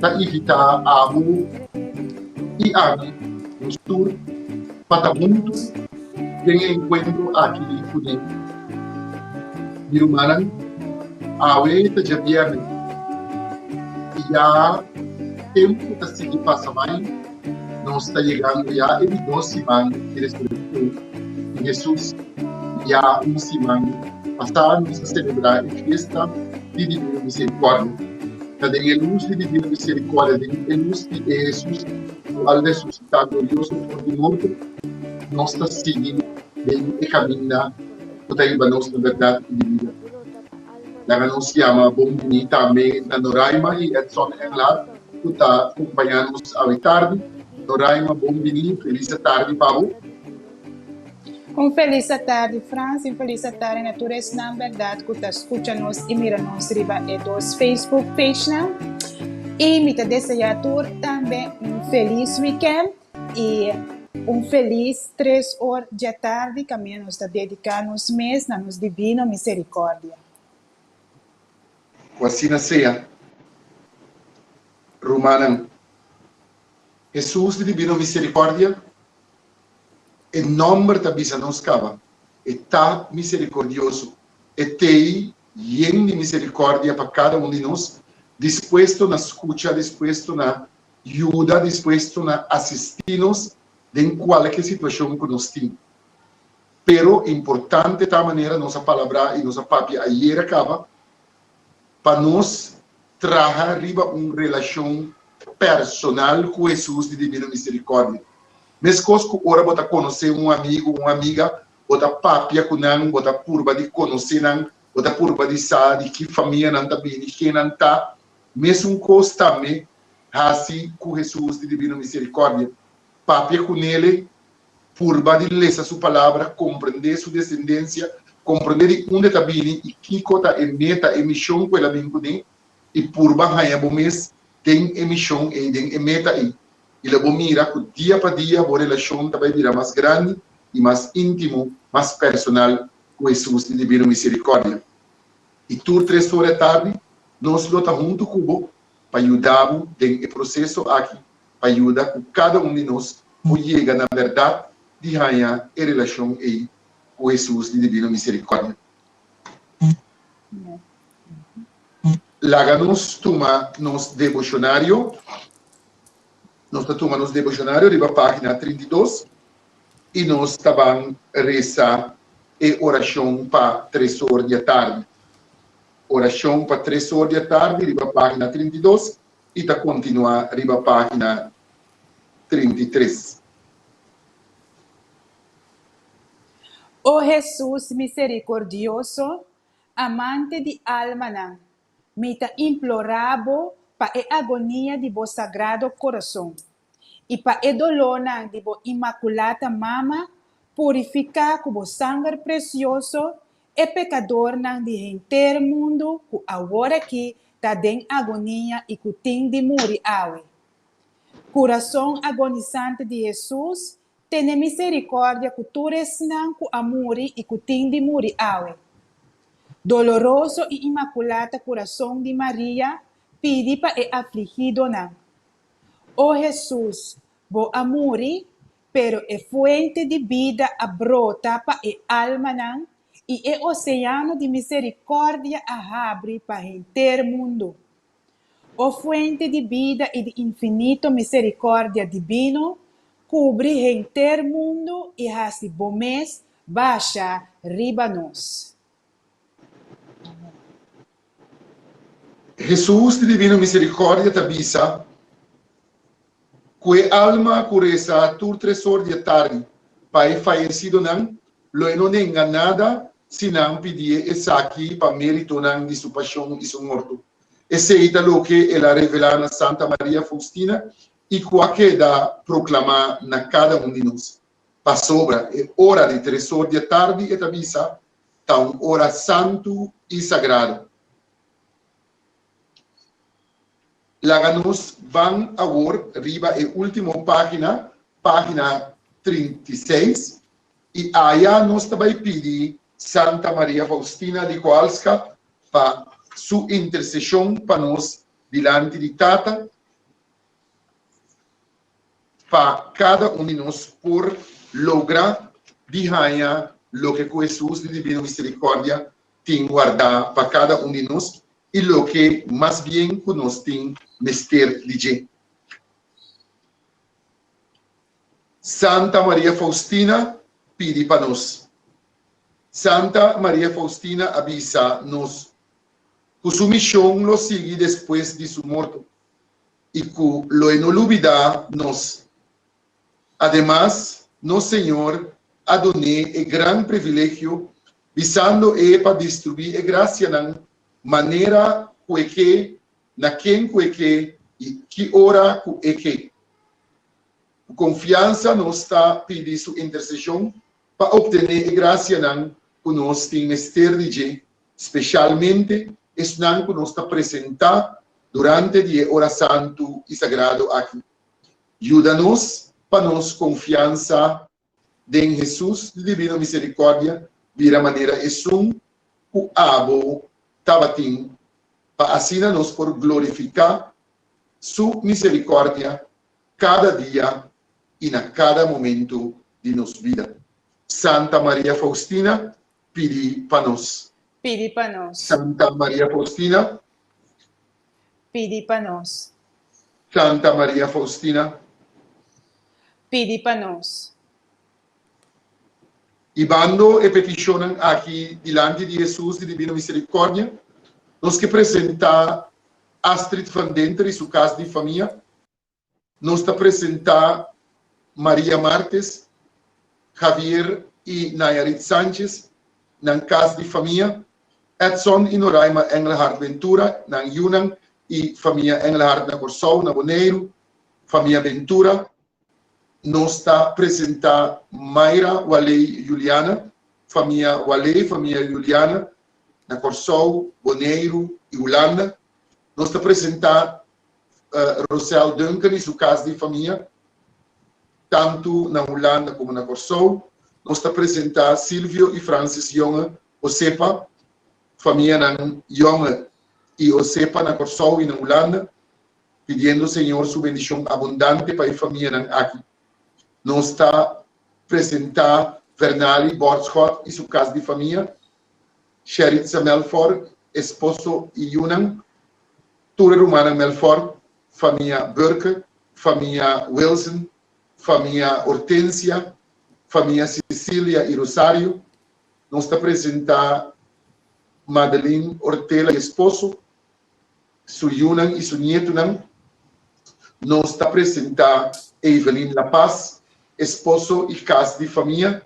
ta invitá abo i ami nos tur pa ta huntu den e enkuentro aki ku nan. Mi rumannan, awe ta djabièrnè i ya tempu ta sigui pasa bai. Nos ta yegando ya e di dos siman di resurekshon, i Hesus ya un siman pasá nos a selebrá e fiesta di Divino Miserikòrdia. Ta den e lus di Divino Miserikòrdia, den e lus di e Hesus ku a resusitá glorioso for di morto, nos ta sigui den e kaminda ku ta hiba nos na bèrdat i di bida. Laga nos yama bon biní tambe na Noraima i Edson Englard. ku ta kumpañá nos awe tardi. Noraima, bon bini, un felis atardi pa bo. Un felis atardi Frans, un felis atardi na tur esnan bèrdat ku ta skucha nos i mira nos riba e dos Facebook pagenan. I mi ta deseá tur tambe un felis wikènt i un felis tres or djatardi kaminda nos ta dediká nos mes na nos Divino Miserikòrdia. Ku asina sea, rumannan, Hesus di Dibino Miserikòrdia, e nòmber ta bisa nos kaba e ta miserikordioso, e t'ei yen di miserikòrdia pa kada un di nos, dispuesto na skucha, dispuesto na yuda, dispuesto na asistí nos den kualke situashon ku nos tin. Pero importante ta manera nos a palabrá i nos a papia ayera caba pa nos traha riba un relacion personal cu Hesus di Divino Misericordia. Mescos cu ora bo ta conoce un amigo o un amiga, bo ta papia cu nan, bo ta purba di conoce nan, bo ta purba di sa di ki famia nan ta bini, ken nan ta, mesun cos tambe haci cu Hesus di Divino Misericordia. Papia cu Nele Purba di lesa su Palabra, komprendé su desendensia, komprendé di unda e ta bini i kiko ta e meta, e mishon ku el a bin kuné, i purba haña bo mes den e mishon ei, den e meta ei. I la bo mira ku dia pa dia bo relashon ta bai bira mas grandi i mas íntimo, mas personal ku Hesus di Divino Miserikòrdia. I tur tres ora e tardi, nos lo ta huntu ku bo pa yuda bo den e proseso aki pa yuda ku kada un di nos por yega na bèrdat di haña e relashon ei ku Hesus di Divino Miserikòrdia. Laga nos tuma nos deboshonario. Nos ta tuma nos deboshonario riba página trinta i dos i nos ta ban resa e orashon pa tres or di atardi. Orashon pa tres or di atardi riba página trinta i dos i ta kontinuá riba página trinta i tres. O Hesus miserikordioso, Amante di almanan, mi ta implorá Bo pa e agonia di Bo Sagrado Koroson. I pa e dolónan di bo Imakulata Mama, purifiká ku bo sanger presioso e pekadornan di henter mundu ku aworakí ta den agonia i ku tin di muri awe. Kurason agonisante di Hesus, tene miserikòrdia ku tur esnan ku a muri i ku tin di muri awe. Doloroso i Imakulata Kurason di Maria, pidi pa e afligidonan. O Hesus, Bo a muri, pero e fuente di bida a brota pa e almanan i e oseano di miserikòrdia a habri pa henter mundu. O fuente di bida i di infinito miserikòrdia dibino, kubri henter mundu i hasi bo mes basha riba nos. Hesus di divino misericordia ta bisa cu e alma cu resa tur tres or di e tardi pa e fayecidonan lo e no nenga nada si nan pidié esaki pa meritonan di su pasion y su morto. Esey ta loke el a revela na Santa Maria Faustina y cu a keda proclama na cada un di nos. Pasobra e ora di tres or di e tardi, e ta bisa, ta un ora santu i sagradu. Laga nos ban awor riba e ultimo pagina, pagina trinta i seis, i aya nos ta bai pidi Santa Maria Faustina di Koalska pa su intersesion pa nos dilanti di Tata. pa kada un di nos por logra di haña loke ku Hesus di Divino Miserikòrdia tin wardá pa kada un di nos i loke mas bien ku nos tin mester di dje. Santa Maria Faustina pidi pa nos. Santa Maria Faustina a bisa nos ku su mishon lo sigui despues di su morto. i ku lo e no lubidá nos. Ademas, nos Señor a don'é e gran privilegio bisando e pa distribuí e grasianan manera ku e ke, na ken ku e ke i ki ora ku e ke. Ku konfiansa nos ta pidi su interseshon pa optené e grasianan ku nos tin mester di dje, spesialmente esnan ku nos ta presentá durante di e ora santu i sagrado aki. Yuda nos pa nos konfiansa den Hesus di Divino Miserikòrdia bira manera esun ku abo tabatin, pa asina nos por glorifiká Su miserikòrdia kada dia i na kada momentu di nos bida. Santa Maria Faustina, pidi pa nos. Pidi pa nos. Santa Maria Faustina. Pidi pa nos. Santa Maria Faustina. Pidi pa nos. Ibando e petishonnan aki dilanti di Hesus di Dibino Misericordia, nos ke presentá Astrid van Denter i su kas di famia Nos ta presentá Maria Martes, Javier i Nayarit Sanchez nan kas di famia, Edson i Noraima Engelhard Ventura nan yunan i famia Engelhard na Kòrsou, na Boneiru, famia Ventura. Nos ta presentá Mayra Waley Juliana, famia Waley, famia Juliana na Kòrsou, Boneiru i Hulanda. Nos ta presentá Rosel Duncan i su kas di famia tantu na Hulanda komo na Kòrsou. Nos ta presentá Silvio i Francis Jonge Osepa, famianan Jonge i Osepa na Kòrsou i na Hulanda, pidiendo Señor su bendishon abundante pa e famianan aki. Nos ta presentá Vernali Borschot i su kas di famia, Sheritza Melfort, esposo i yunan. Tur e rumannan Melfort, famia Burke, famia Wilson, famia Hortensia, famia Cecilia i Rosario, nos ta presentá Madeline Ortela i esposo, su yunan i su nietunan. Nos ta presentá Evelyn La Paz, esposo i kas di famia,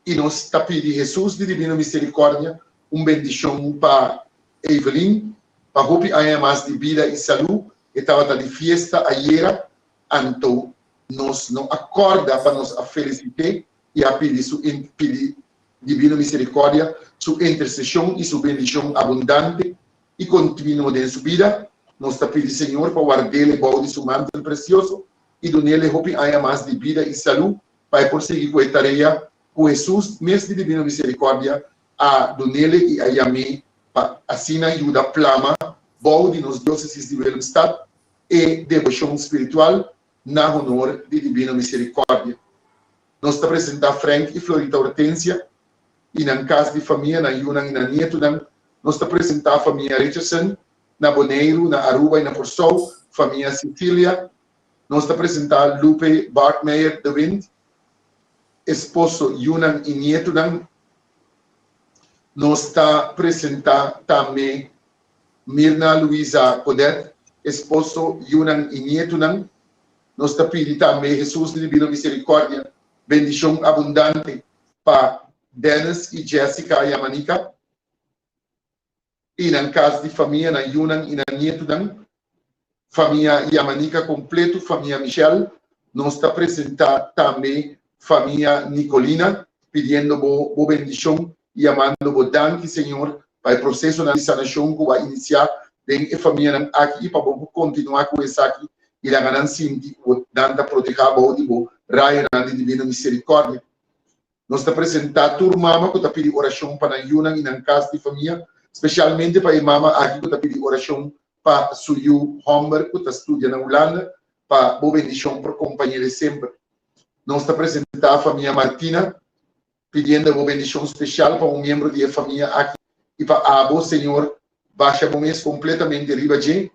i nos ta pidi Hesus di Dibino Miserikòrdia un bendishon pa. Evelyn, Pa hopi aña mas di bida i salú e tabata di fiesta ayera, anto nos no a kòrda pa nos a felisit'é i a pidi su pidi Divino Miserikòrdia su interseshon i su bendishon abundante i kontinuo den su bida. Nos ta pidi Señor pa ward'el ebou di su mantel presioso i dun'el e hopi aña mas di bida i salú pa e por sigui ku e tarea ku Hesus, mes di Divino Miserikòrdia, a dunele i a yam'é pa asina yuda plama bou di nos diosesis di Willemstad e debocion spiritual na honor di Divino Misericordia. Nos ta presenta Frank i Florita Hortensia i nan cas di famia, nan yunan i nan nietunan. Nos ta presenta famia Richardson na Boneiru, na Aruba i na Corsou, famia Cecilia Nos ta presenta Lupe Bartmeijer de Wint, esposo, yunan i nietunan. Nos ta presenta tambe Mirna Luisa Codet, esposo, yunan i nietunan. Nos ta pidi tambe Hesus di Divino Misericordia bendicion abundante pa Dennis i Jessica Yamanica. i nan kas di famia, nan yunan i nan nietunan, famia Yamanica completo, famia Michel, nos ta presenta tambe famia Nicolina, pidiendo bo bo bendicion i yamando bo danki Señor pa e procesonan di sanacion cu bo a inicia den e famianan aki i pa bo por continua cu esaki i laga nan sinti cu nan ta proteha bou di bo rayonan di divino misericordia. Nos ta presentá tur mama ku ta pidi orashon pa nan yunan i nan kas di famia, spesialmente pa e mama aki ku ta pidi orashon pa su yu hòmber ku ta studia na Hulanda, pa Bo bendishon por kompañe'e semper. Nos ta presentá famia Martina, pidiendo Bo bendishon spesial pa un miembro di e famia aki i pa abo, Señor, basha Bo mes kompletamente riba dje,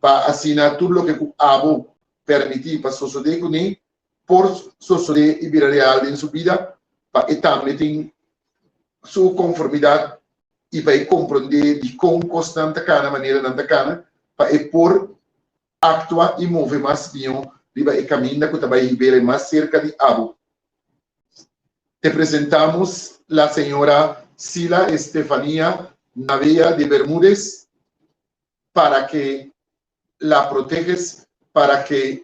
pa asina tur loke ku abo permití pa sosodé kuné por sosodé i bira real den su bida pa e tambe tin su konformidat i pa e komprondé dikon kosnan ta kana manera nan ta kana pa e por aktua i move mas mihó riba e kaminda ku ta bai Hibera i mas serka di abo. Te presentamos la señora Sila Estefania Navea de Bermudez para ke la protehes para ke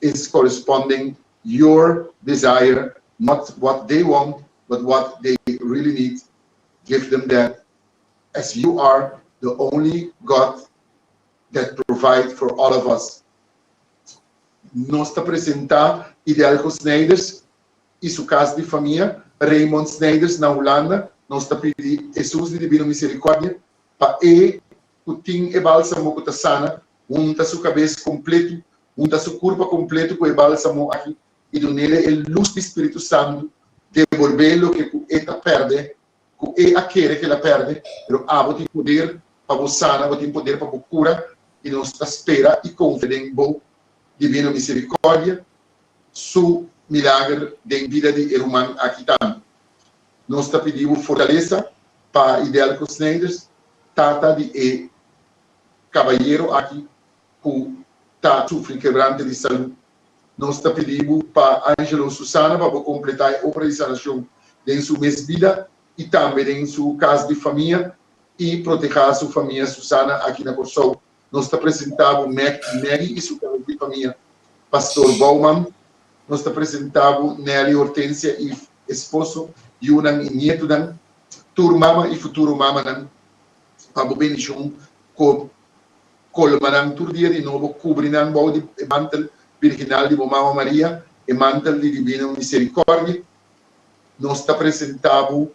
is corresponding your desire not what they want but what they really need give them that as you are the only God that provide for all of us Nos ta presenta Idelco Snijders y su cas di famia Raymond Snijders na Hulanda nos ta pidi Hesus di Divino Misericordia pa e ku tin e bálsamo ku ta sana, hunta su kabes kompletu, hunta su kurpa kompletu ku e bálsamo aki i dun'é e lus di spiritu santu, debolb'é loke ku e ta pèrdè, ku e a kere kela pèrdè, pero abo tin poder pa bo sana, bo tin poder pa bo kura, i nos ta spera i konfia den bo di bira miserikòrdia su milager den bida di e ruman aki tambe. Nos ta pidi bo fortalesa pa Idelco Snijders, tata di e kabayero aki ku ta sufri kebrante di salú. Nos ta pidi bo pa Angelo Susana pa bo kompletá e obra di sanashon den su mes bida i tambe den su kas di famia i protehá su famia Susana aki na Kòrsou. Nos ta presenta bo Mac y Maggie y su talent di famia, Pastor Bouwman. Nos ta presenta bo Nelly Hortensia y esposo, yunan y nietonan, tur mama y futuro mamanan. Pa bo bendicion cu colma nan tur dia di nobo, cubri nan bou di e mantel virginal di bo Mama Maria, e mantel di divino misericordi. Nos ta presenta bo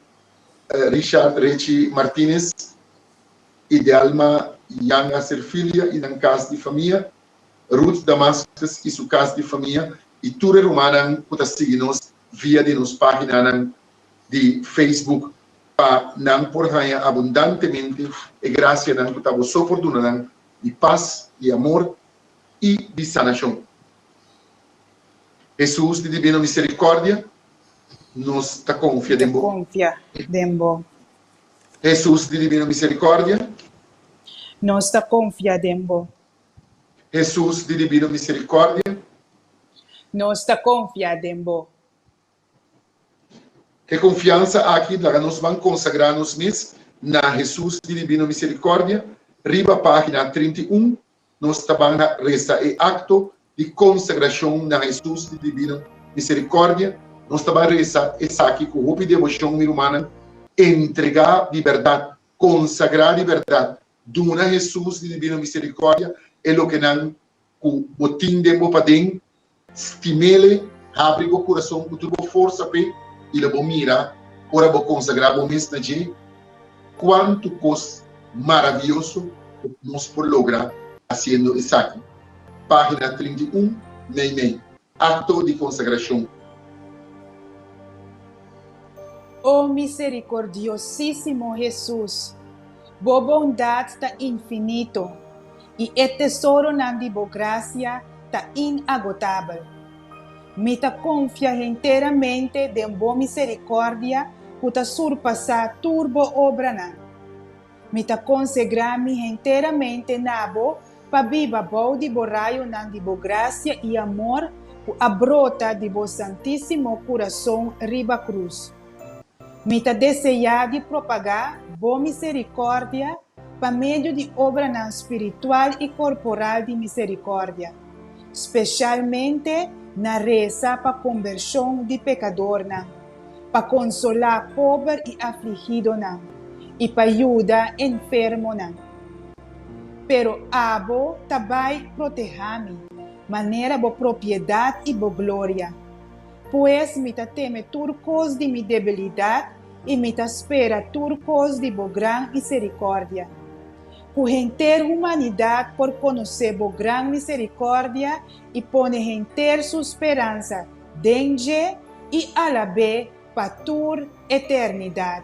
Richard Richie Martinez i Delma Jan Aser Filia i nan kas di famia, Ruth Damascus i su kas di famia, i tur e rumannan ku ta sigui nos via di nos paginanan di Facebook, pa nan por haña abundantemente e grasianan ku ta boso por duna nan di pas, di amor i di sanashon. Hesus di Dibino Miserikòrdia, nos ta konfia den bo. Hesus di Divino Misericordia. Nos ta confia den bo. Hesus di Divino Misericordia. Nos ta confia den bo. E confiansa aki laga nos ban consagra nos mes na Hesus di Divino Misericordia riba pagina trinta i un. Nos ta ban na resa e akto di konsagrashon na Hesus di Divino Miserikòrdia. Nos ta ban resa esaki ku hopi devoshon, mi rumannan. Entregá di bèrdat, konsagrá di bèrdat, duna Hesus di Divino Miserikòrdia e lokenan ku bo tin den bo paden. Stimele, Habri bo kurason ku tur bo forsa p'e i lo bo mira, ora bo konsagrá bo mes na dje, kuantu kos maravioso ku nos por logra hasiendo esaki. Página trinta i un, Meimei, Akto di Konsagrashon. O miserikordiosísimo Hesus, bo bondat ta infinito, i e tesoronan di bo grasia ta inagotabel. Mi ta konfia henteramente den bo miserikòrdia ku ta surpasá tur bo obranan. Mi ta konsegrá mi henteramente na bo pa biba bou di bo rayonan di bo grasia i amor ku a brota di bo santísimo kurason riba krus. Mi ta deseá di propagá Bo miserikòrdia pa medio di obranan spiritual i korporal di miserikòrdia, spesialmente na resa pa kombershon di pekadornan, pa konsolá pober i afligidonan, i pa yuda enfermonan. Pero abo ta bai protehá mi, manera bo propiedat i bo gloria. Pues mi ta teme tur kos di mi debilidat i mi ta spera tur kos di bo gran miserikòrdia. Ku henter humanidat por konosé bo gran miserikòrdia i pone henter su speransa den dje i alab'é pa tur eternidat.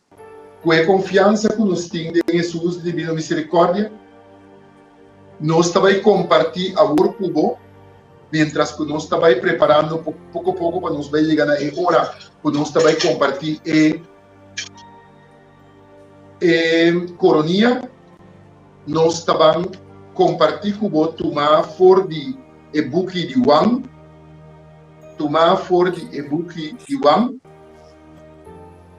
Ku e konfiansa ku nos tin den Hesus di bira miserikordia, nos ta bai kompartí awor ku bo, miéntras ku nos ta bai preparando poko poko pa nos bai yega na e ora ku nos ta bai kompartí e e koronia. Nos ta ban kompartí ku bo tumá for di e buki di Wan, tumá for di e buki di Wan.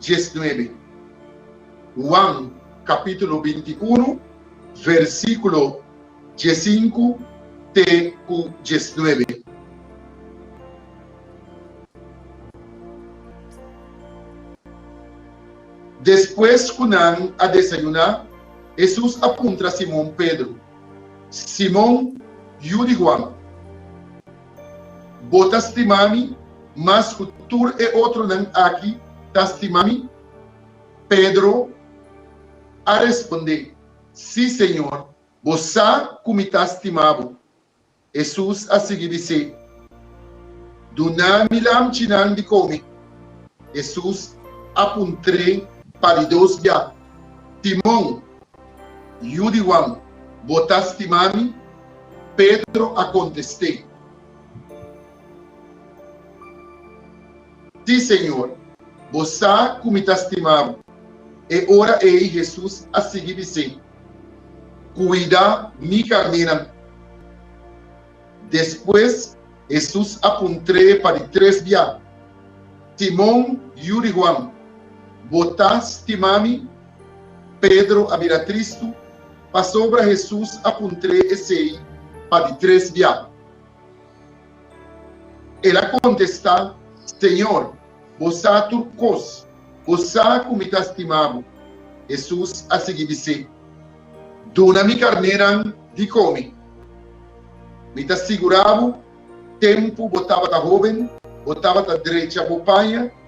19. Huan capítulo binti-unu versículo diesinku te ku diesnuebe. Despues ku nan a desayuná, Hesus a puntra Simon Pedro, Simon, yu di Huan, Bo ta stima mi mas ku tur e otronan aki ta stima mi? Pedro a respondé, Sí, Señor, bo sa ku mi ta stima bo. Hesus a sigui bis'é, Duna mi lamchinan di kome. Hesus a puntr'é pa di dos biaha, Simon, Yu di Juan, bo ta stima mi? Pedro a kontest'é, Ti, Señor, bo sa ku mi ta stima bo. E ora ei Hesus a sigui bis'é, Kuida mi karnénan. Despues Hesus a puntr'é pa di tres bia, Simon, yu di Juan, bo ta stima mi? Pedro a bira tristu pasobra Hesus a puntr'é esei pa di tres bia. El a kontestá, Señor, bo sa tur kos, bo sa ku mi ta stima bo. Hesus a sigui bis'é, Duna mi karnénan di kome. Mi ta sigurá bo, tempu bo tabata hóben, bo tabata drecha bo paña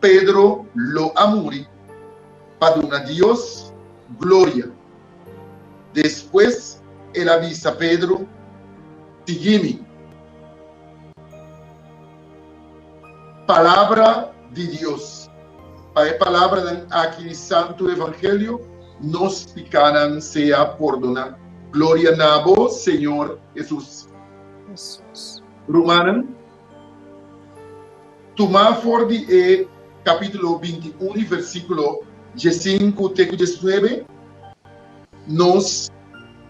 Pedro lo a muri pa duna Dios gloria. Despues el a bisa Pedro, Sigui mi. Palabra di Dios. Pa e palabranan aki di Santu Evangelio nos pikánan sea pordoná. Gloria na bo, Señor Hesus. Rumannan. Tuma for di e capítulo binti i un di versículo diesinku te ku diesnuebe, nos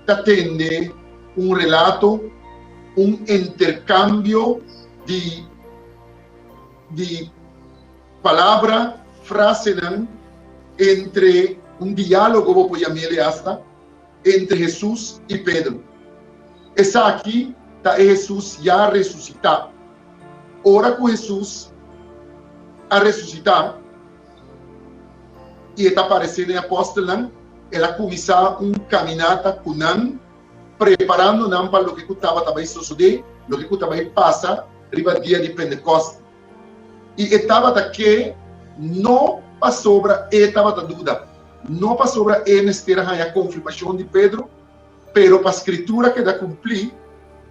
ta tende un relato, un intercambio di di palabra, frasenan entre un diálogo bo por yam'e lei asta. entre Hesus i Pedru. Esaki ta e Hesus ya resusitá. Ora ku Hesus a resusitá i e ta paresé den e apòstelnan, el a kuminsá un kaminata ku nan, preparando nan pa loke ku tabata bai sosodé, loke ku ta bai pasa riba dia di Pentekòs. I e tabata ke no pasobra e tabata duda, no pasobra e mester a haña konfirmashon di Pedro, pero pa Skritura keda kumplí,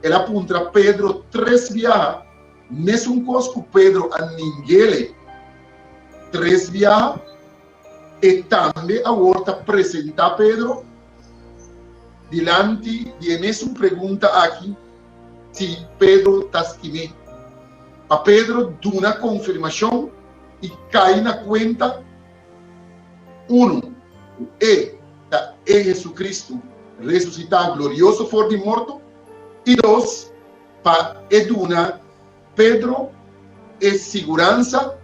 el a puntra Pedro tres biaha mesun kos ku Pedro a ningele tres biaha. E tambe awor ta presentá Pedro dilanti di e mesun pregunta aki si Pedro ta skim'é. Pa Pedro duna konfirmashon i kai na kuenta, unu, ku e ta e Hesukristu resusitá glorioso for di morto, i dos, pa e duna. Pedro e siguransa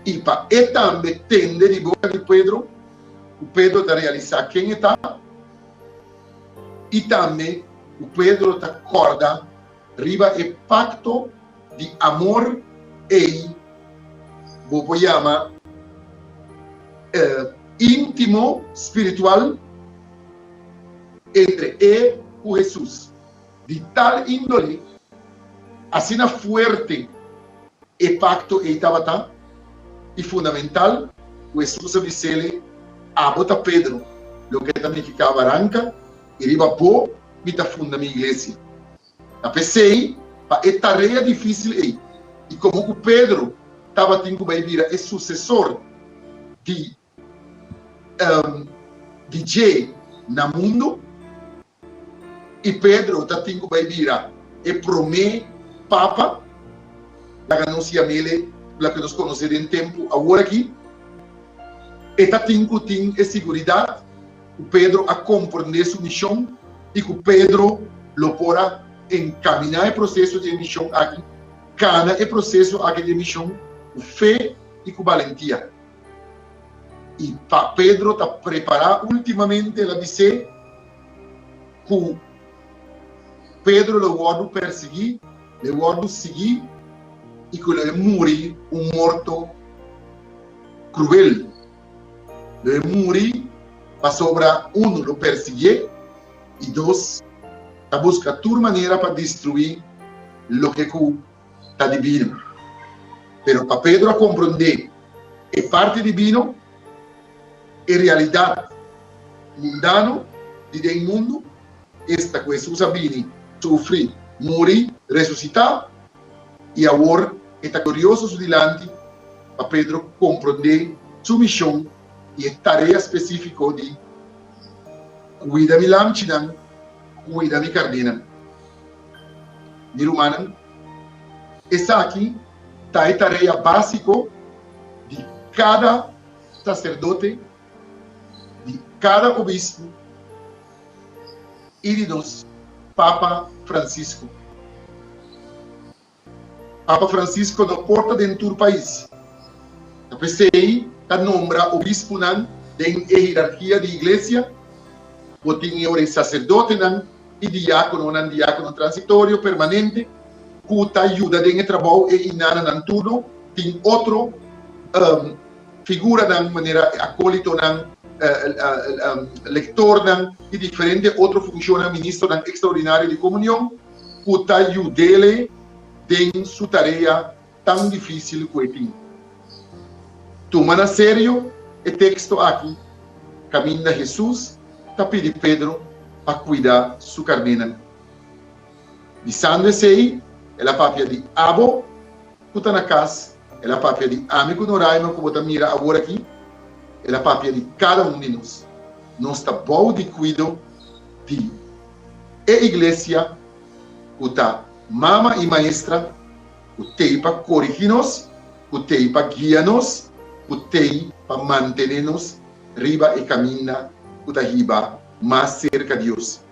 i pa e tambe tende di boka di Pedro ku Pedro ta realisá ken e ta i tambe ku Pedro ta kòrda riba e pakto di amor ei bo por yama íntimo spiritual entre e ku Hesus. Di tal índole, asina fuerte e pakto ei tabata i fundamental ku Hesus a biséle, Abo ta Pedro, loke ta miki ta baranka, i riba bo mi ta funda mi iglesia. Ta p'esei, pa e tarea difísil ei i komo ku Pedro tabatin ku bai bira e susesor di Dje na mundu, I Pedro ta tin ku bai bira e promé Papa. Laga nos yam'ele loke nos konos'é den tempu awor aki. E ta tin ku tin e siguridat ku Pedro a komprendé su mishon i ku Pedro lo por a enkaminá e proseso di e mishon aki, kana e proseso aki di e mishon ku fe i ku balentia. I pa Pedro ta prepará últimamente el a bis'é ku Pedro lo wòrdu pèrsiguí, lo wòrdu siguí i ku lo e muri un morto kruel. Lo e muri pasobra unu lo pèrsiguié i dos ta buska tur manera pa destruí loke ku. ta di bino. Pero pa Pedro a komprondé e parti di bino, e realidat mundano di den mundu, esta ku Hesus a bini, sufri, muri, resusitá, i awor e ta glorioso su dilanti, pa Pedro komprondé su mishon i e tarea spesífiko di kuida mi lamchinan, kuida mi karnénan. Mi rumannan, esaki ta e tarea básiko di kada saserdote, di kada obispo i di nos Papa Francisco. Papa Francisco no por ta den tur pais, ta p'esei ta nombra obispunan den e hierarkia di Iglesia, bo tin e oren saserdotenan i diakononan, diakono transitorio, permanente, ku ta yuda den e trabou, e inananan turno, tin otro figuranan manera e akolitonan, lektornan i diferente otro funshonnan, ministernan ekstraordinario di komunion. ku ta yud'é den su tarea tan difísil ku e tin. Tuma na serio e teksto aki, Kaminda Hesus ta pidi Pedro pa kuida su karnénan. Bisando esei, el a papia di abo ku ta na kas, el a papia di ami ku Noraima ku bo ta mira awor aki, el a papia di kada un di nos. Nos ta bou di kuido di E iglesia ku ta mama i maestra ku tei pa korigí nos, ku tei pa guia nos, ku tei pa mantené nos riba e kaminda ku ta hiba mas serka Dios.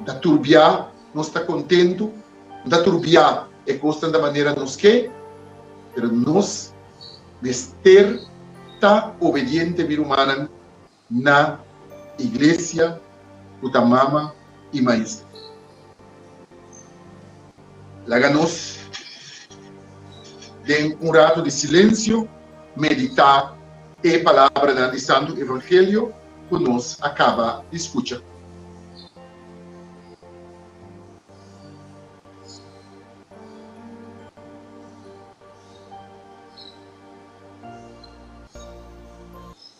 N ta tur bia nos ta kontentu, no ta tur bia e kosnan ta manera nos ke, pero nos mester ta obediente, mi rumannan. Na iglesia cu ta mama y maestra. Laga nos den un rato di silencio medita e palabranan di Santo Evangelio cu nos a caba di scucha.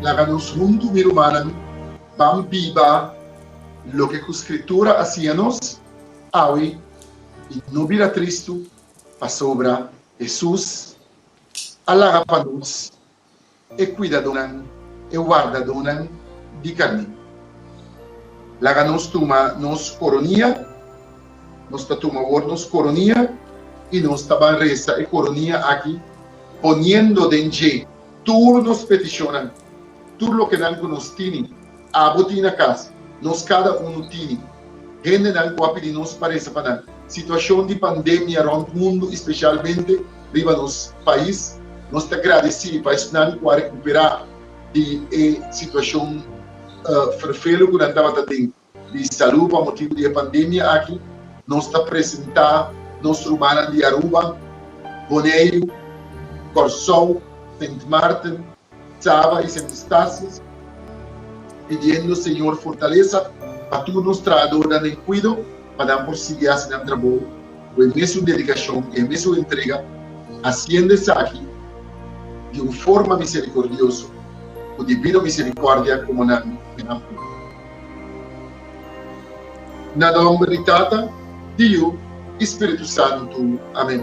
Laga nos huntu, mi rumannan, ban biba loke ku Skritura a siña nos awe i no bira tristu, pasobra Hesus a laga pa nos e cuidadonan, e wardadonan di carnin. Laga nos tuma nos coronia, nos ta tuma wor nos coronia y nos ta ban resa e coronia aki poniendo den dje tur nos peticionnan, tur loke nan cu nos tini. Abo tin na kas. Nos kada unu tini hendenan ku a pidi nos pa resa pa nan. Situashon di pandemia rònt mundu i spesialmente riba nos pais, nos ta gradesí pa esnan ku a rekuperá di e situashon ferfelu ku nan tabata den di salú pa motibu di e pandemia aki. Nos ta presentá nos rumannan di Aruba, Boneiru, Kòrsou, Sint Maarten, Saba y Sint Eustatius, pidiendo Señor fortalesa pa tur nos trahadornan den cuido pa nan por sigui haci nan trabou cu e mesun dedicacion y e mesun entrega, haciendo esaki di un forma misericordioso, cu divino misericordia como nan e nan puru. Na nomber di Tata, di Yu y Spiritu Santu. Amen.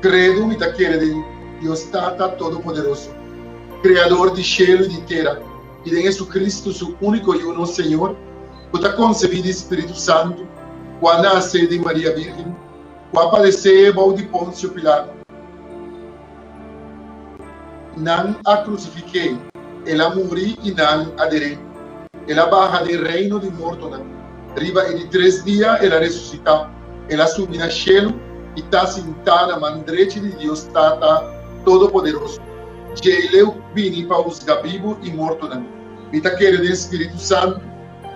Credo mi ta kere den Dios Tata Todopoderoso, Creador di shelu i di tera, i den Jesucristo, su unico yu nos Señor, cu ta concebi di Spiritu Santo, cu a nace di Maria Virgen, cu a padece bou di Poncio Pilato, Nan a krusifik'é, el a muri i nan a der'é. El a baha den reino di mortonan. Riba e di tres dia el a resusitá, el a subi na shelu i ta sintá na man drechi di Dios Tata Todopoderoso. Djei'leu ku bini pa husga bibu i mortonan. Mi ta kere den spiritu santu,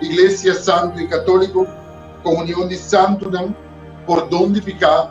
iglesia santu i katóliko, komunion di santunan, pordon di piká,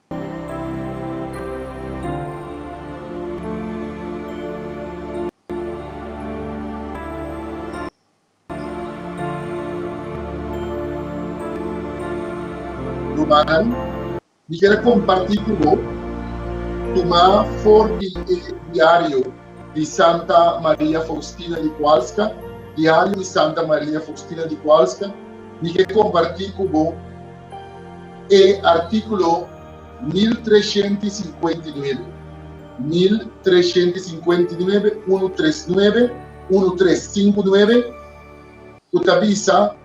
Ruman, mi kier a kompartí ku bo tuma for di e diario di Santa Maria Faustina di Kowalska, Diario di Santa Maria Faustina di Kowalska, mi ke kompartí ku bo. E artíkulo mil treshent i sinkuenta i nuebe, mil treshent i sinkuenta i nuebe, unu tres nuebe, unu tres sinku nuebe, ku ta bisa,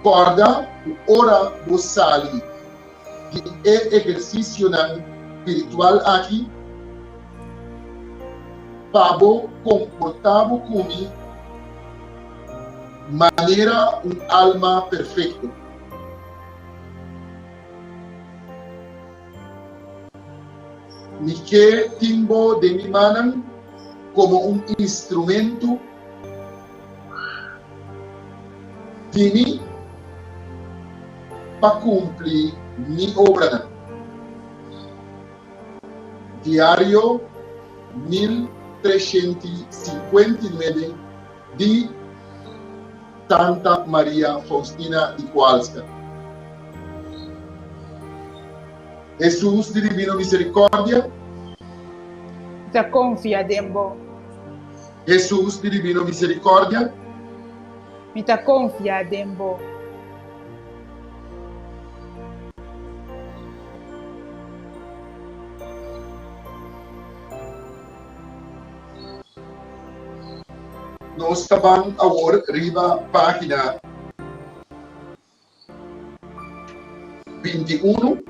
Kòrda ku ora bo sali di e ehersisionan spiritual aki, pa bo komportá bo ku mi manera un alma perfekto. Mi ke tin bo den mi manan komo un instrumentu di mi pa kumpli mi obranan. Diario mil treshenti sinkuenta i nuebe. di Tanta Maria Faustina di Kowalska. Hesus di Dibino Miserikordia. Ta konfia den bo. Hesus di Dibino Miserikordia. Mi ta konfia den bo. Nos ta ban awor riba página binti unu,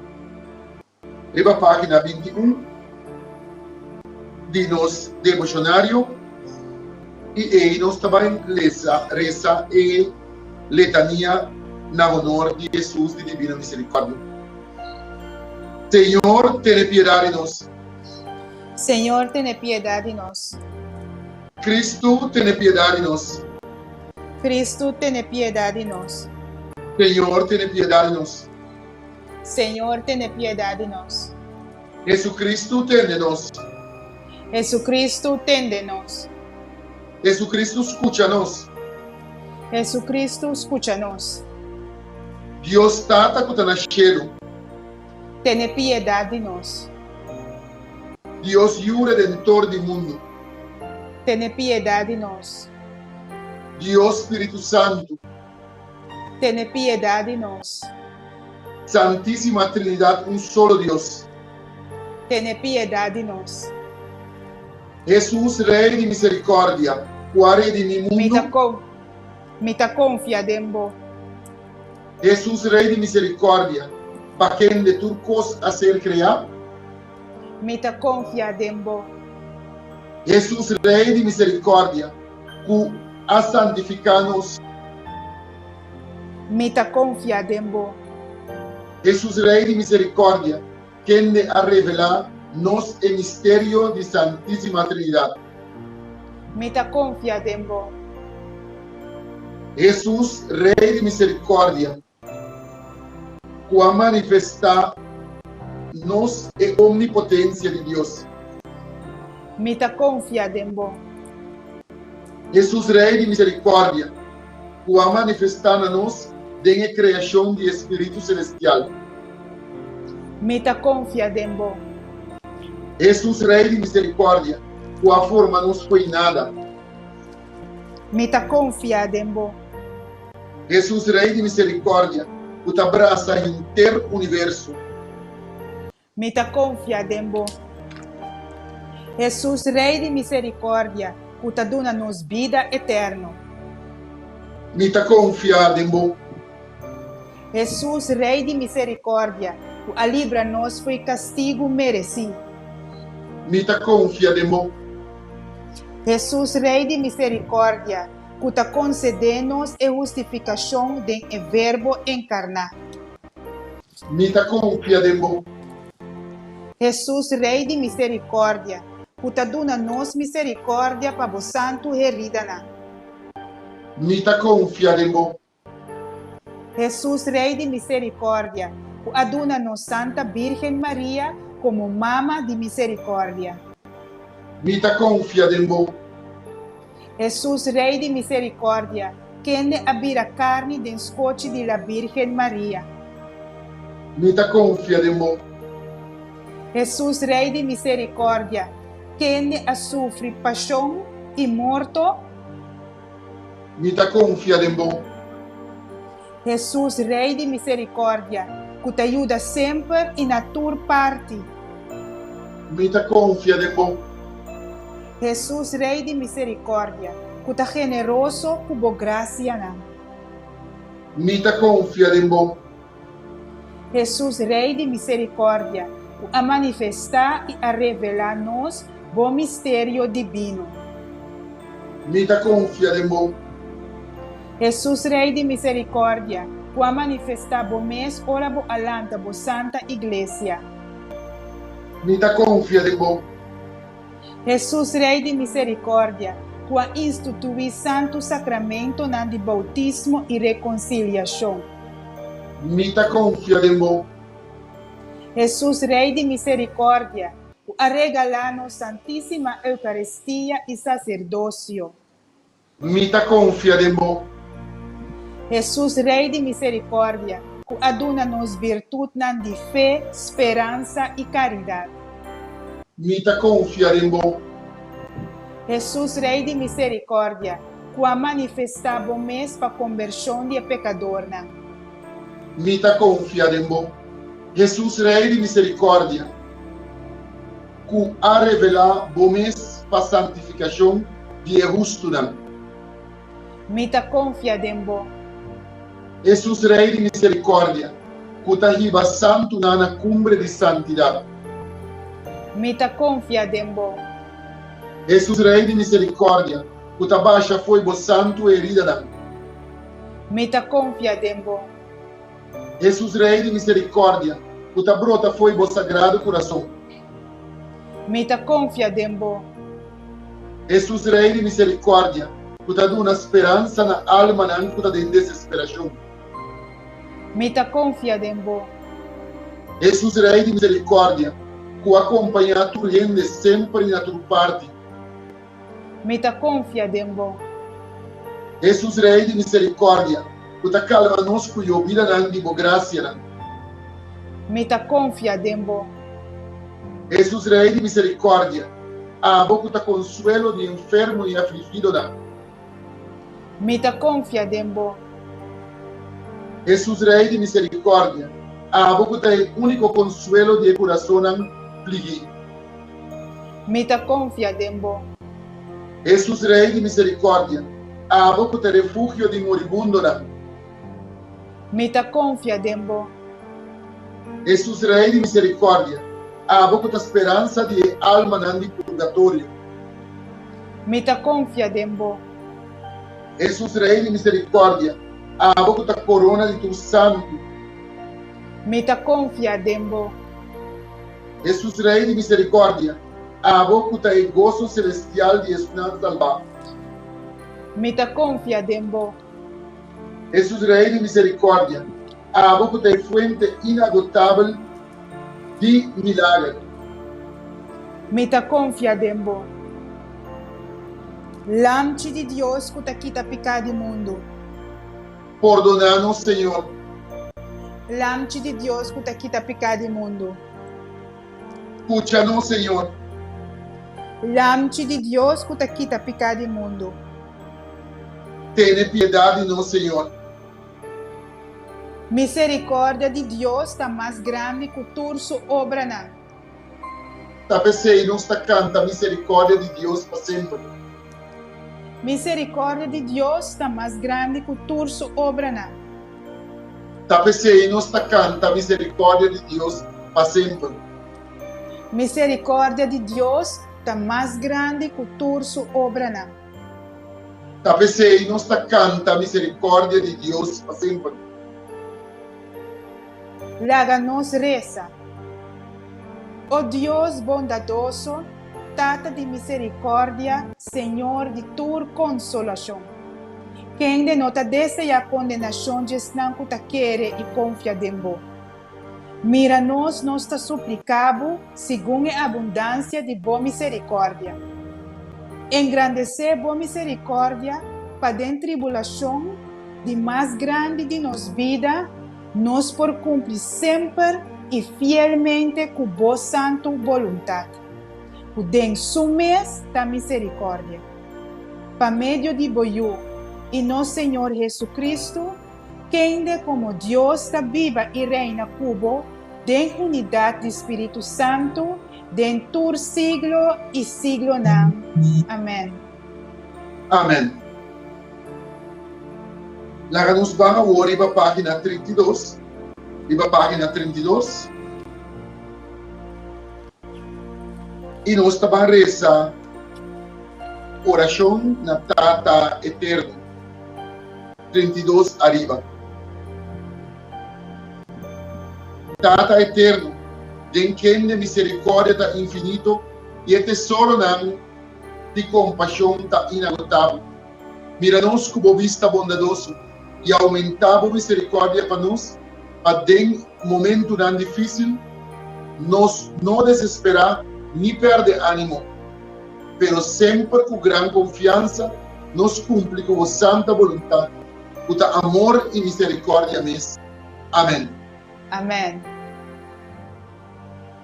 riba página binti un di nos devoshonario i ei nos ta bai lesa resa e letania na honor di Hesus di Dibino Miserikòrdia. Señor, tene piedad di nos. Señor, tene piedad di nos. Cristo, tene piedad di nos. Cristo, tene piedad di nos. Señor, tene piedad di nos. Señor, tene piedad di nos. Jesucristo, tende nos. Jesucristo, tende nos. Jesucristo, scucha nos. Jesucristo, scucha nos. Dios Tata cu ta na cielo. tene piedat di nos. Dios Yu Redentor di mundu. Tene piedat di nos. Dios Spiritu Santu. Tene piedat di nos. Santisima Trinidat un solo Dios. Tene piedat di nos. Hesus Rey di misericordia, ku a redimi mundu. Mi ta konfia den bo. Hesus Rei di Miserikòrdia, pa kende tur kos a ser kreá? Mi ta konfiá den bo. Hesus Rei di Miserikòrdia, ku a santifiká nos. Mi ta konfiá den bo. Hesus Rei di Miserikòrdia, Kende a revelá nos e misterio di Santísima Trinidad? Mi ta konfia den bo. Hesus, Rei di miserikòrdia, ku a manifestá nos e omnipotensia di Dios. Mi ta konfia den bo. Hesus, Rei di miserikòrdia. ku a manifestá na nos den e kreashon di e spiritu selestial. Mi ta konfia den bo. Hesus Rei di miserikòrdia ku a forma nos koinada. Mi ta konfia den bo. Hesus Rei di miserikòrdia ku ta brasa henter universo. Mi ta konfia den bo. Hesus, Rei di miserikòrdia, ku ta duna nos bida etèrno. Mi ta konfia den bo. Hesus, Rei di miserikòrdia, ku a libra nos for e kastigu meresí. Mi ta konfia den bo. Hesus, Rei di miserikòrdia, ku ta konsedé nos e hustifikashon den e Verbo enkarná. Mi ta konfia den bo. Hesus Rei di miserikordia, ku ta duna nos miserikordia pa bo santu heridanan. Mi ta konfia den bo. Hesus Rei di miserikordia, ku a duna nos Santa Bírgen Maria komo Mama di miserikordia. Mi ta konfia den bo. Hesus, Rei di miserikòrdia, kende a bira karni den skochi di la Bírgen Maria. Mi ta konfia den bo. Hesus, Rei di miserikòrdia, kende a sufri pashon i morto. Mi ta konfia den bo. Hesus, Rei di misericordia, cu ta yuda semper y na tur parti. Mi ta confia den bo. Hesus, Rei di misericordia, cu ta generoso cu bo gracianan. Mi ta confia den bo. Hesus, Rei di misericordia, cu a manifesta y a revela nos bo misterio divino. Mi ta confia den bo. Hesus Rei di misericordia, cu a manifesta bo mes ora bo a lanta bo santa Iglesia. Mi ta confia den bo. Hesus Rei di misericordia, cu a institui santu sacramentonan di bautismo y reconciliacion. Mi ta confia den bo. Hesus Rei di misericordia, cu a regala nos Santisima Eucaristia y Sacerdocio. Mi ta konfia den bo. Hesus, Rei di miserikòrdia, ku a duna nos virtutnan di fe, speransa i karidat. Mi ta konfia den bo. Hesus, Rei di miserikòrdia, ku a manifestá bo mes pa kombershon di e pekadornan. Mi ta konfia den bo. Hesus, Rei di miserikòrdia. ku a revelá bo mes pa santifikashon di e hustunan. Mi ta konfia den bo. Hesus Rei di miserikòrdia, ku ta hiba santu nan na kumbre di santidat. Mi ta konfia den bo. Hesus Rei di miserikòrdia, ku ta basha fo'i bo santu heridanan. Mi ta konfia den bo. Hesus Rei di miserikòrdia, ku ta brota fo'i bo sagrado kurason. Mi ta konfia den bo. Hesus Rei di miserikòrdia, ku ta duna speransa na almanan ku ta den desesperashon. Mi ta konfia den bo. Hesus Rei di miserikòrdia, ku a kompañá tur hende semper i na tur parti. Mi ta konfia den bo. Hesus Rei di miserikòrdia. Bo ta kalma nos ku yobidanan di bo grasianan. Mi ta konfia den bo. Hesus Rei di miserikòrdia. Abo ku ta konsuelo di enfermo i afligidonan. Mi ta konfia den bo. Hesus Rei di miserikòrdia, abo ku ta e úniko konsuelo di e kurasonnan pligí. Mi ta konfia den bo. Hesus Rei di miserikòrdia, abo ku ta refugio di moribundonan. Mi ta konfia den bo. Hesus Rei di miserikòrdia, abo ku ta speransa di e almanan di purgatorio. Mi ta konfia den bo. Hesus Rei di miserikòrdia. Abo ku ta korona di tur santu. Mi ta konfia den bo. Hesus Rei di miserikòrdia. Abo ku ta e goso selestial di esnan salbá. Mi ta konfia den bo. Hesus Rei di Miserikòrdia, abo ku ta e fuente inagotabel di milager. Mi ta konfia den bo. Lamchi di Dios ku ta kita piká di mundu. Pordoná nos, Señor. Lamchi di Dios ku ta kita piká di mundu. Scucha nos, Señor. Lamchi di Dios cu ta kita pica di mundo. Tene piedad di nos, Señor. Misericordia di Dios ta mas grandi cu tur su obranan. Ta p'esey nos ta canta misericordia di Dios pa semper. Misericordia di Dios ta mas grandi cu tur su obranan. Ta pesey nos ta canta misericordia di Dios pa semper. Misericordia di Dios ta mas grandi cu tur su obranan. Ta pesey nos ta canta misericordia di Dios pa semper. Laga nos reza. O Dios bondadoso. Tata di misericordia, Señor di tur consolacion. Kende no ta desea condenacion di esnan cu ta kere y confia den Bo? Mira nos, nos ta suplica Bo segun e abundancia di Bo misericordia. Engrandece Bo misericordia pa den tribulacion di mas grandi di nos bida, Nos por cumpli semper i fielmente cu Bo santu boluntad, cu den Su mes ta misericordia. Pa medio di Bo Yu i nos Señor Jesucristo, kende como Dios ta biba i reina cu Bo den unidad di Spiritu Santu den tur siglo i siglonan. Amen. Amen. Laga nos ban awor riba página trinta i dos, riba página trinta i dos, i nos ta ban resa orashon na Tata Eterno, trinta i dos ariba. Tata Eterno, den kende miserikòrdia ta infinito i e tesoronan, di compashon ta inagotabel. Mira nos cu bo bista bondadoso y aumenta bo misericordia pa nos, pa den momentunan dificil nos no desespera ni perde animo, pero semper cu gran confiansa nos cumpli cu bo santa boluntad, cu ta amor y misericordia mes. Amen. Amen.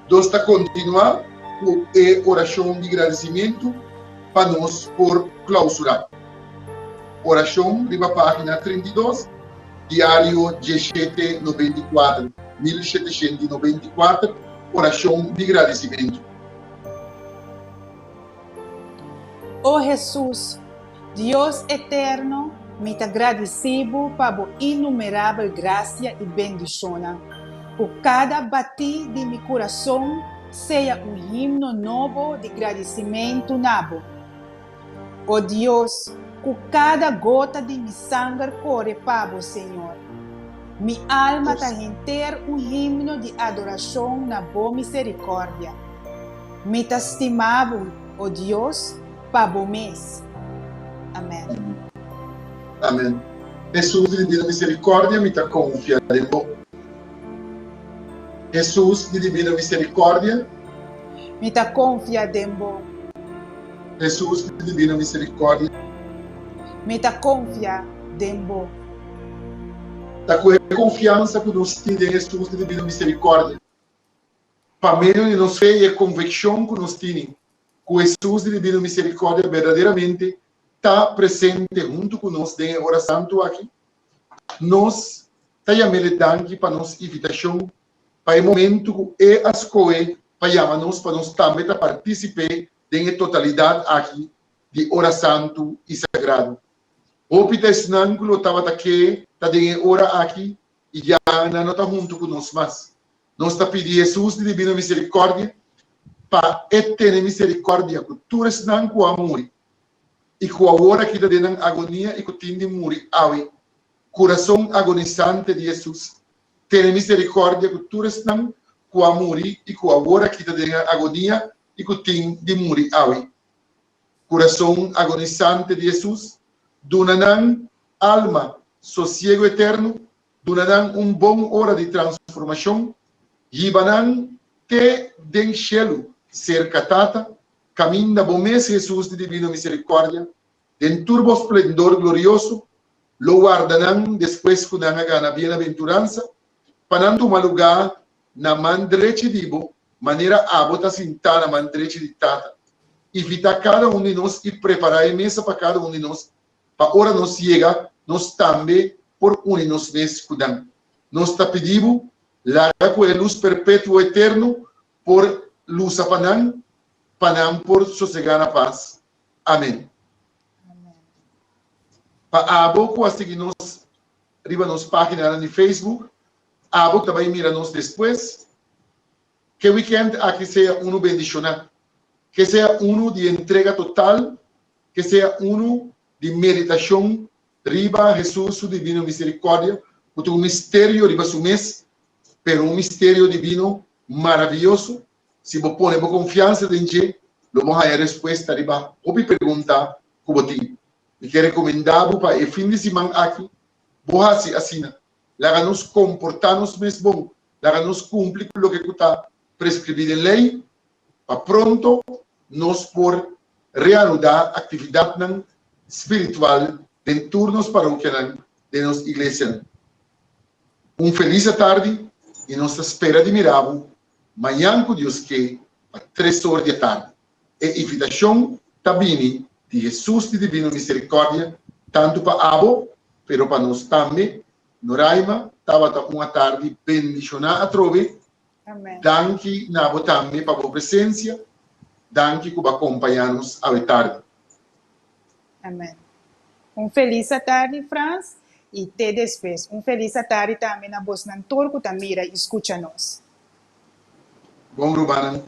Nos ta kontinuá ku e orashon di gradisimentu pa nos por klausurá. Orashon riba página trinta i dos, Diario Dieshete Noventa i Kuater, Mil Sheteshen i Noventa i Kuater, Orashon di Gradisimentu. O Hesus, Dios eterno, mi ta gradisí Bo pa Bo innumerabel grasia i bendishonnan, ku kada batí di mi kurason sea un himno nobo di gradisimentu na Bo. O Dios, ku kada gota di mi sanger kore pa Bo, Señor. Mi alma ta henter un himno di adorashon na bo miserikòrdia. Mi ta stima bo, o Dios, pa bo mes. Amèn. Amèn. Hesus, di dibida miserikòrdia mi ta konfia den bo. Hesus, di dibida miserikòrdia. Mi ta konfia den bo. Hesus, di dibida miserikòrdia. Mi ta konfia den bo. ta cu e confiansa cu nos tin den Jesús di Divino Misericordia. Pa medio di nos fe y e conveccion cu nos tini cu Jesús di Divino Misericordia berdaderamente ta presente hunto cu nos den e ora santo aki, nos ta yaméle danki pa nos invitacion pa e momento cu E a scohe pa yama nos pa nos tambe ta particip'é den e totalidad aki di ora santo y sagrado. Hopi ta esnan ku lo tabata ke ta den e ora aki i ya nan no ta huntu ku nos mas. Nos ta pidi Hesus di Dibino Miserikòrdia pa e tene miserikòrdia ku tur esnan ku a muri i ku awor aki ta den nan agonia i ku tin di muri awe. Kurason agonisante di Hesus tene miserikòrdia ku tur esnan ku a muri i ku awor aki ta den nan agonia i ku tin di muri awe. Kurason agonisante di Hesus duna nan alma sosiegu eterno, duna nan un bon ora di transformashon, yiba nan te den shelu serka Tata, kaminda bo mes Hesus di divino miserikòrdia, den tur bo splendor glorioso, lo warda nan despues ku nan a gana bienaventuransa pa nan tuma lugá na man drechi di bo, manera abo ta sintá na man drechi di Tata. Invitá kada un di nos i prepará e mesa pa kada un di nos, pa ora nos yega, nos tambe por uni nos mes ku nan. Nos ta pidi bo, laga ku e lus perpetuo eterno por lusa pa nan, pa nan por sosegá na pas. Amén. Pa abo ku a sigui nos Riba nos paginanan di Facebook. Abo ta bai mira nos despues. Ke wikènt aki sea unu bendishoná. Ke sea unu di entrega total, ke sea unu di meditashon riba Hesus su divino miserikòrdia, ku ta un misterio riba su mes, pero un misterio divino maravioso. Si bo pone bo konfiansa den dje, lo bo haña respuesta riba hopi pregunta ku bo tin. Mi ke rekomendá bo pa e fin di siman aki bo hasi asina, Laga nos komportá nos mes bon, laga nos kumpli ku loke ku ta preskribí den lei, pa pronto nos por reanudá aktividatnan spiritual den tur nos parokianan, den nos iglesianan. Un felis atardi i nos ta spera di mira bo Mañan cu Dios ke, pa tres or di atardi. E invitacion ta bini di Hesus di divino misericordia tantu pa abo, pero pa nos tambe. Noraima, tabata un atardi bendicioná atrobe. Danki na abo tambe pa bo presencia. Danki cu bo a compaña nos awe tardi. Amen. Un felis atardi Frans y te despues un felis atardi tambe na bosnan tur cu ta mira y scucha nos. Bon rumannan,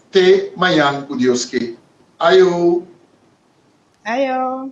te mayan cu Dios ke. Ayo! Ayo!